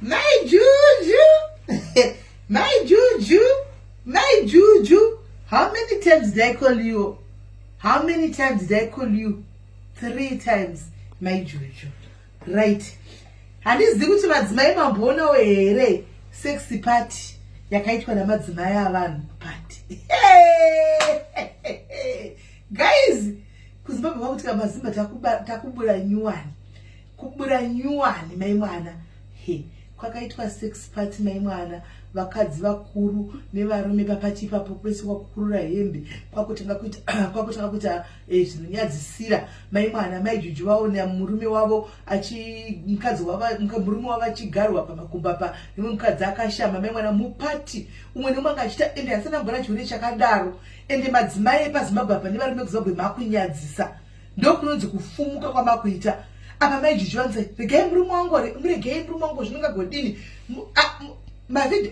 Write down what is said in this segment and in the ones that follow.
mai juju mai juju mai juju how many times did i call you how many times did i call you three times mai juju right handizivi kuti madzimai mamboonawo here sexy party yakaitwa namadzimai avanhu party guys kuzimbabwe kwakuti kamazimba takubura nyuwani kubura nyuwani mai mwana he kwakaitwa sex party mai mwana vakadzi vakuru nevarume papachi ipapo kwese kwakukurura hembe kwakutanga kuita kwakutanga kuita eh, zvinonyadzisira mai mwana mai juju vaona murume wavo achi mukadzi wava murume wavo achigarwa pamakumba pa imwe mukadzi akashama mai mwana mupati umwe neumwe anga achita ende asina mbona chione chakadaro ende madzimai epazimbabwe apa nevarume kuzimbabwe makunyadzisa ndokunonzi kufumuka kwamakuita apa maijiji vanzi regai murume wangu muregei murume wangu zvinongagodini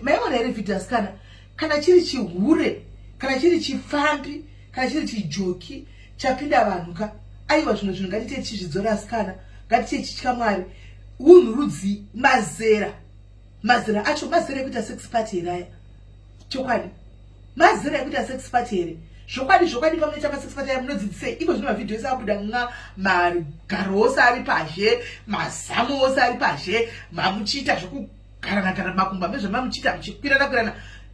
maiona here vhidhi asikana kana chiri chihure kana chiri chipfambi kana chiri chijoki chapinda vanhu ka aiwa zvino zvinhu ngatiite tichizvidzora asikana ngatiite tichitya mwari unhu rudzii mazera mazera acho mazera ekuita sex party here aya chokwadi mazera ekuita sex party here zvokwadi zvokwadi pamunoita masex party aya munodzidzisei iko zvino mavhidhiyo ese abuda nga magaro ose ari pazhe mazamu ose ari pazhe mamuchiita zvekugarana gara makumba mezvamamuchiita muchikwirana kwirana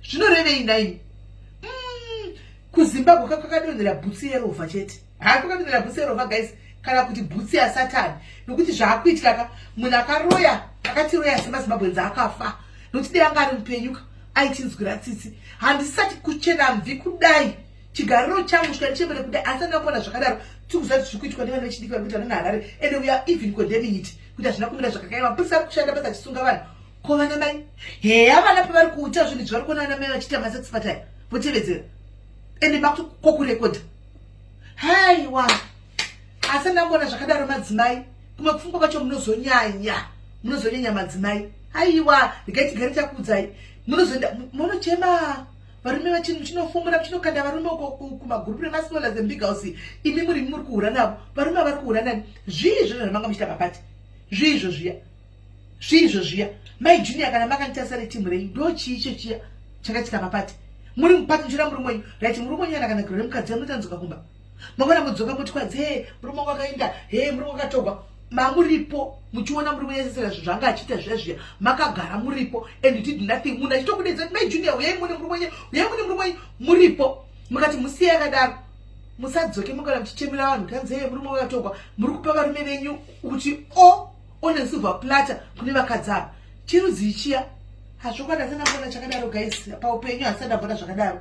zvinorevei naini mm, kuzimbabwe kakakadonhera bhutsu yerovha chete haa kwakapindira bhutsi yerova guys kana kuti bhutsi yasatani nokuti zvaakuitika ka munhu akaroya akatiroya semazimbabwenzi akafa nokuti dai anga ari mupenyuka aitinzwira tsitsi handisati kuchena mvi kudai chigariro changu chikani chembere kudai asi andingakuona zvakadaro tikuziva kuti zviri kuitwa nevana vechidiki vari kuita vana harare and we are even condemning it kuti hazvina kumira zvakakaya mapurisa ari kushanda basa achisunga vanhu ko vana mai heya vana pavari kuita zvinhu zvavari kuona vana mai vachiita masex pataya votevedzera ende makuti kokurekodha haiwa asi andina kuona zvakadaro madzimai kumwe kufungwa kwacho munozonyanya munozonyanya madzimai haiwa regai tigare takuudzai munozoenda munochema varume vachinhu chinofumura chinokanda varume uko kumagurupu remasmola zembig house imi muri muri kuhura navo varume vari kuhura nani zvii izvozvo zvamanga muchita mapati zvii izvo zviya zvirizvo zviya mai junior kana makanditarisa retimu rei ndo chii icho chiya chakaitika papati muri mupati muchira murume wenyu rit murume wenyu anakana giro remukadzi yamutanzoka kumba mangwana mudzoka moti kwadzi he murume wangu akaenda he murume wakatogwa mamuripo muchiona murume yesesera zvinhu zvanga achiita zviya zviya makagara muripo and did nothing munhu achitokudedza kuti mai junior uyai mune murume wenyu uyai mune murume wenyu muripo mukati musiye akadaro musadzoke mukana muchichemera vanhu tanzi he murume wakatogwa muri kupa varume venyu kuti o oh, one silver platter kune vakadzi ava chirudzii chiya hazvokwadi hasina kuona chakadaro guys paupenyu hasina kuona zvakadaro